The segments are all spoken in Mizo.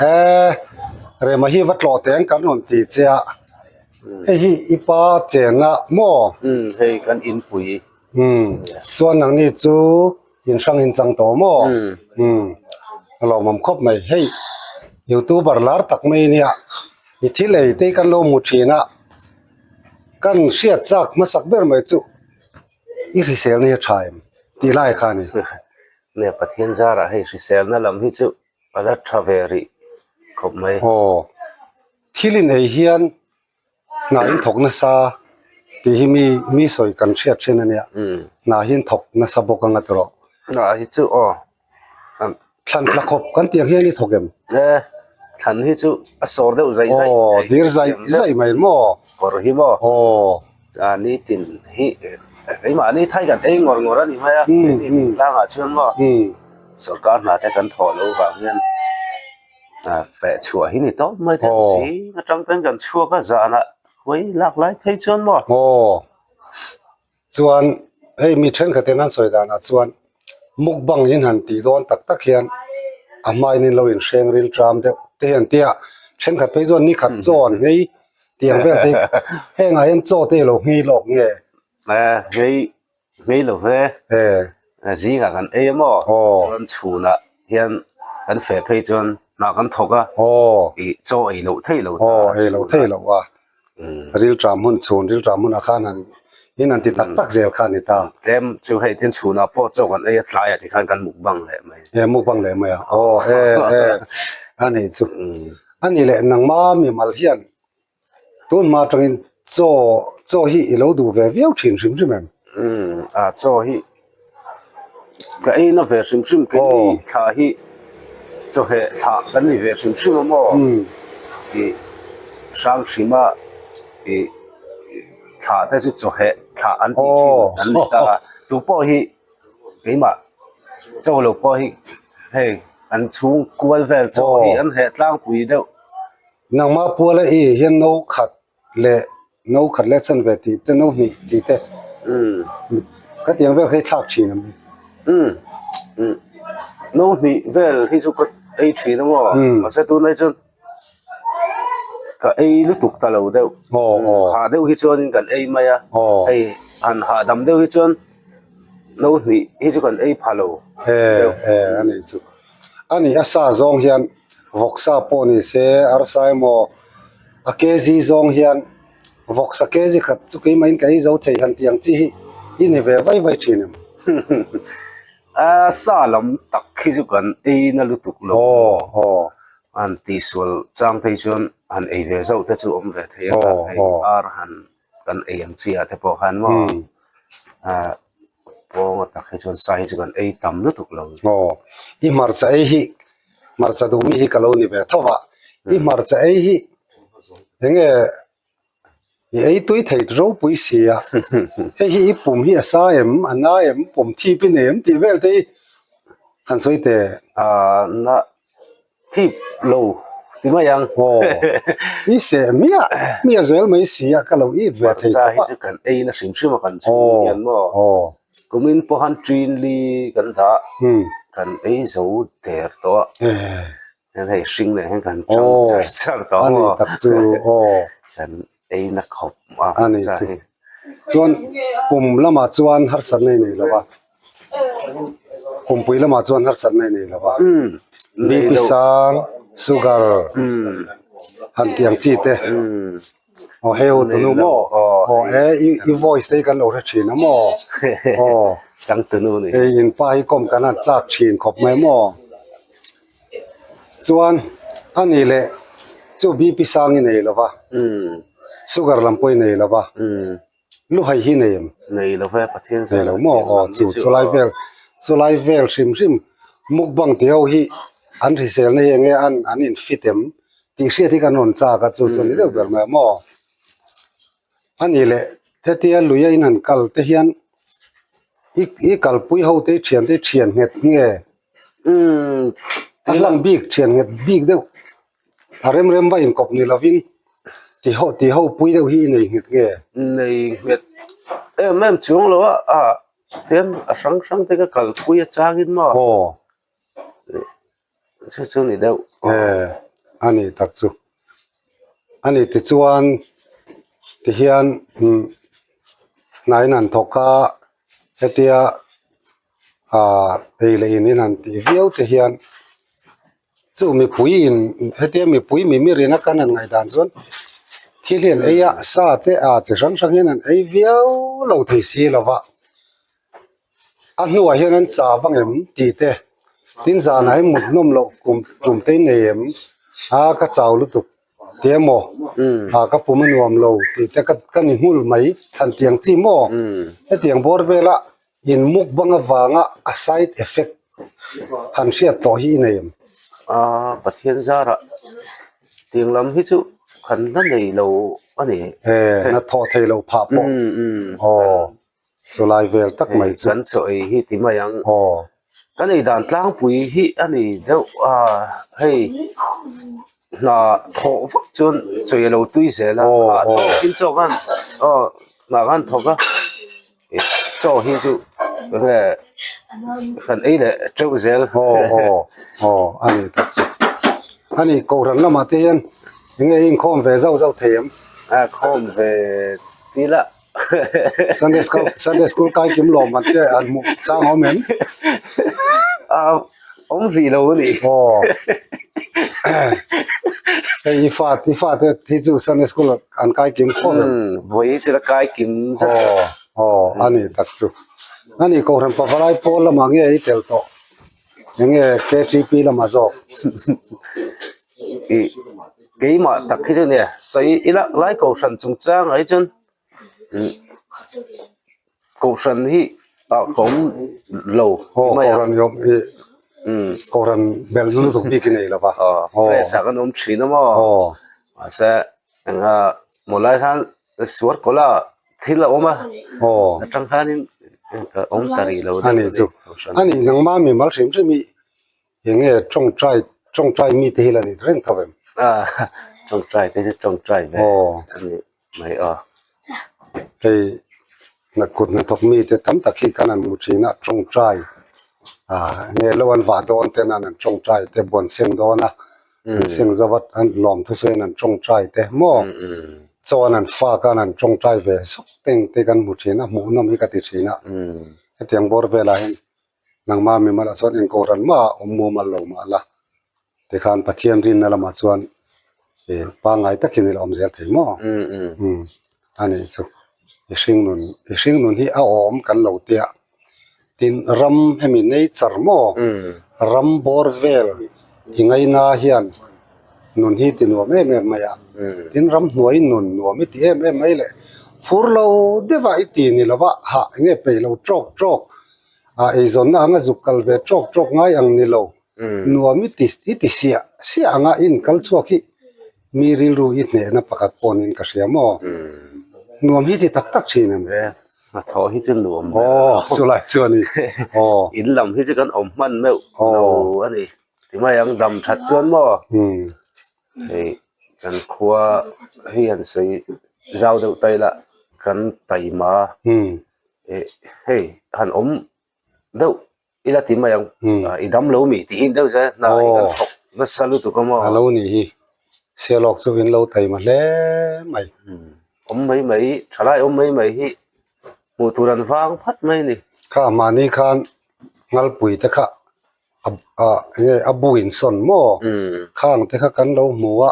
he rema hi va tlawh teh ang kan rawn ti chiah hei hi i pa chenna maw hei kan inpui chuan ang ni chu in hrang in chang tawh maw a lawmawm khawp mai hei youtuber lar tak mai a nia i thil ei te hi kan lo hmu thin a kan hriat chak hmasak ber mai chu i hrisel na hi a tha em tih lai kha a ni. Ala tha ve rih khawp mai. Aw. Thil in ei hian hna in thawk nasa tih hi mi mi sawi kan hriat thin a nia. Hna hian thawk nasa bawk a ngat rawh. Hna hi chu aw an thlan hla khawp kan tih ang hian i thawk em? E thlan hi chu a sawr deuh zai zai. Aw dir zai zai mai maw? Kawr hi maw? Aw. Ahh nitin hi keimahni thai kan ei ngawr ngawr a ni mai a, nitin tlangah chuan maw sorkar hna te kan thawh loh vang hian ahh feh chhuah hi ni tawp mai te awh si, atang chuan kan chhuak a zan ah khuai lak lai phei chuan maw aww chuan hei mi thenkhat in an sawi dan ah chuan. mukbang in han tih dawn tak tak hian a hmain in lo in hreng ril ṭam deuh te hi an tia a thenkhat phei zawk nikhat chaw an ngei tih ang vel te heng ah hian chaw te hi a lo ngei lawk nge ngei ngei lo hle zing ah kan ei a maw chuan chhun ah hian kan feh phei chuan hna kan thawk a chaw ei loh theih lo ta a. Rilṭah hmun chhun, rilṭah hmunah khan han in han ti tak tak zel kha a ni ta. Tlem chu hei tin chhunah pawh chawk an ei a, tlaiah ti khan kan muk bang leh mai. E, muk bang leh mai a, aw e e a nih chu. A ni leh, nangma mimal hian tun hma atangin chaw, chaw hi i lo duh ve viau ṭhin hrim hrim em? Umm, a chaw hi. ka ein a ve hrim hrim keng hi thla hi chawhmeh thla kan ni ve hrim hrim a maw ih hrang hrim a ih thla te chu chawhmeh thla an tih thin an ni ta a chu pawh hi keimah chaw lo pawh hi hei an chhung kual vel chaw hi an heh tlangpui deuh. leh no khat leh chan ve tih te no hnih tih te khatiang vel hi thlak thin ang no hnih vel hi chu ka ei thin ang aw mahse tun hi chuan ka ei lutuk ta lo deuh hah deuh hi chuan kan ei mai a hei han hah dam deuh hi chuan no hnih hi chu kan ei phah lo deuh a ni chu a ni a sa zawng hian vawk sa pawh ni se arsa emaw-- A kg zawng hian vawk sa kg khat chu keimahin ka ei zo thei han tih ang chi hi i ni ve vai vai thin em a sa lam tak khi chu kan ei na lutuk lo aw aw an tih sual chang phei chuan han ei ve zauh te chu awm ve thei a aw aw ar han. kan ei ang chi ah te pawh khan maw ah pawngaw tak hi chuan sai hi chu kan ei tam lutuk lo aw i hmarcha ei hi hmarcha duh mi hi ka lo ni ve tho a i hmarcha ei hi enge i ei tui thei ropui si a hei hi i pum hi a sa em a na em pawm thip i nei em tih vel te hi han sawi teh a na Thlip lo ti mai ang. Aw. I se mia mia zel mai si a ka lo it ve thei khawp a. Hmarcha hi chu kan eina hrim hrim a kan chhung ang hian maw. Aw. Kumin pawh han ṭin li kan dah kan ei zo der tawh a. Eeh. Hian hei hring nen hian kan ṭang char char tawh ang maw. Aw a ni tak chu aw. Kan. Eina khawp a ni chu. Chuan pum lamah chuan harsat na i nei lova, pumpui lamah chuan harsat na i nei lova. BP sang, sugar, han tih ang chi te. Aw hei ho Tunu maw? Aw e i voice te hi kan lo hre thin a maw? Aw. Chang Tunu a ni. Hei in pa hi kawm kan han chak thin khawp mai maw? Chuan a nih leh chu BP sang i nei lo va sugar lam pawh i nei lo va lu hai hi nei em? Nei lo ve Pathian zia lo maw aw chu chu lai vel chu lai vel hrim hrim mukbang tih ho hi an hriselna hi eng nge an an infit em tih hriat hi kan rawn chak a chu chu ni deuh ber mai a maw. A nih leh, hetia luia in an kal te hian i kalpui ho te i thian te hi thian nghet nge a hlang bik thian nghet bik deuh a rem rem va inkawp ni lovin ti ho pui deuh hi i nei nghet nge? Nei nghet em em chuang lo a a tian a hrang hrang te ka kalpui atangin maw? Aw. chu chu ni deuh e a nih tak chu a ni ti chuan ti hian imm hnahin han thawk a hetia ah ei leh in in han tih viau te hian chu mipuiin hetia mipui mimir ina kan han ngaihdan chuan thil hian eia sa te a chi hrang hrang hian an ei viau lo thei si lova. a hnungah hian an chah vang em tih te tin zan ai muthlawm loh kum kum te nei em a ka chau lutuk tih emaw ah ka pum a nuam lo tih te ka ka ni nghulh mai than tiang chi maw hetiang bawr vela in muk bang avanga a side effect han hriat tawh hi i nei em aaa pathian zara tiang lam hi chu kan la nei lo a ni e na thawh theih lo phah pawh aw. Chulai vel tak mai chu. Kan chawi hi ti mai ang. Aw. Ka nei dan tlangpui hi a ni deuh a, hei hna thawh vak chuan chawi a lo tui zel a. Aw aw. A thawkin chaw khan aw hna khan thawk a, chaw hi chu nge kan ei leh teuh zel. Aw aw aw a ni tak chu. A ni kohhran lamah te hian eng nge inkhawm ve zauh zauh thei ang. A khawm ve ti lah. Sunday school Sunday school kai kim lo man te an mu sang hom em a om vi lo ni o ei i fa i fa te thi chu Sunday school an kai kim kho em voi chu la kai kim chu o o ani tak chu ani ko ran pavalai pol lama nge i tel to Eng nge KTP lama zawk ih keimah tak khi chu nge sawi ila lai kohhran chung chang ai chuan ih kohhran hi a a awm lo aw kohhran hi a awm hi umm kohhran bel zu lutuk bik hi a nei lo va aw stress ah kan awm thin a maw aw mahse engah mawlai khan suar kawlh a thil a awm a aw tangkhanin ka awm ta rih lo a ni chu a ni nangma mi mal hrim hrim hi enge tawngtai tawngtai mi te hi la ni reng tho em a tawngtai te hi tawngtai ve aw a nih mai a hei na kut na thawk mi te tam tak hi kan an mu thin a tawngtai a nge lo an vah dawn ten an an tawngtai te buan sem dawn a Siang zova an lawm thusawiin an tawngtai te maw chuan an fa khan an tawngtai ve zawk te ang te kan hmu thin a, hmuh nawm hi ka ti thin a, hetiang bawr velah hian nangma mimalha chuan engkaw ran maha awm mumal lo mah la tikhan Pathian rinna lamah chuan pangngai takin ila awm zel thei maw. a nei chu i hringnun i hringnun hi a awm kan lo tia ah tin ram hemi nei char maw ram bawr vel i ngaina hian nun hi ti nuam em em mai a tin ram hnuai nun nuam i ti em em mai leh fur lo deuh a i ti ni lo va hah eng nge peih lo trawk trawk ah eizawnna anga zuk kal ve trawk trawk ngai ang ni lo nuam i ti i tihsiah siah anga i inkal chhuak hi. Mi rilru i hnehna pakhat pawh niin ka hria maw? Nuam hi ti tak tak thin em? He hnathawh hi chu nuam ber lo. Aw, chulai chu a ni. Aw. In lam hi chu kan awm hman meuh lo a ni. Timai ang dam that chuan maw hei kan khua hi an sawi zau deuh taila kan taima hei han awm. deuh i la ti mai ang i dam lo mi tih hi deuh zia hna hi kan thawk nasa lut awm aw a lo ni hi sialawk chu in lo taima hle mai awm mai mai tha lai awm mai mai hi hmuh tur an vang phat mai a ni kha a mahni khan ngalpui te kha a eng nge a bu in sawn maw khang te kha kan lo hmu a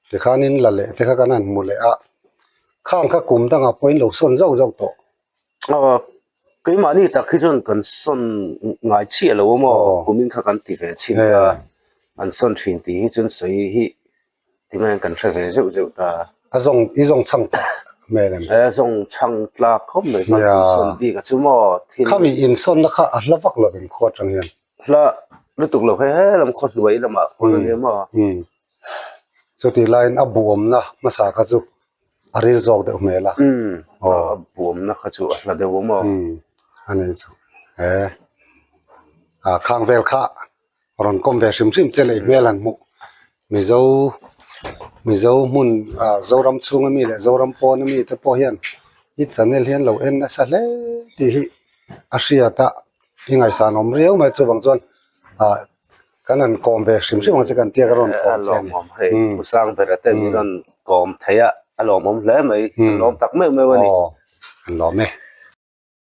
tikhan in la leh te kha kan han hmu leh a khang kha kum dang ah pawh in lo sawn zauh zauh tawh. aw keimahni tak hi chuan kan sawn ngai chiah lo awm aw kum in kha kan ti ve chhin ta an sawn thin tih hi chuan sawi hi ti mai ang kan hre ve zeuh zeuh ta a zawng i zawng chhang tak hmel em a zawng chhang tlak khawp mai kha an sawn bik a chu maw khami in sawn na kha a hla vak lo em khaw atang hian hla lutuk lo hei hei lam khaw hnuai lamah khaw ania maw chutih laiin a buamna hmasa kha chu a ril zawk deuh hmel a a buamna kha chu a hla deuh awm aw a nen chu he a khang vel kha rawn kawm ve hrim hrim che leh hmel an hmuh mizo mizo hmun a zoram chhunga mi leh zoram pawn a mi te pawh hian i chanel hian lo en nasa hle tih hi a hriat a i ngaihsan awm riau mai chuvang chuan a. Kan rawn kawm ve hrim hrim ang che kan tia ka rawn kawm che a ni. Lawmawm hei Musang ber a ten hi rawn kawm theih a, a lawmawm hle mai, a lawm tak meuh meuh a ni. Aww an lawm e.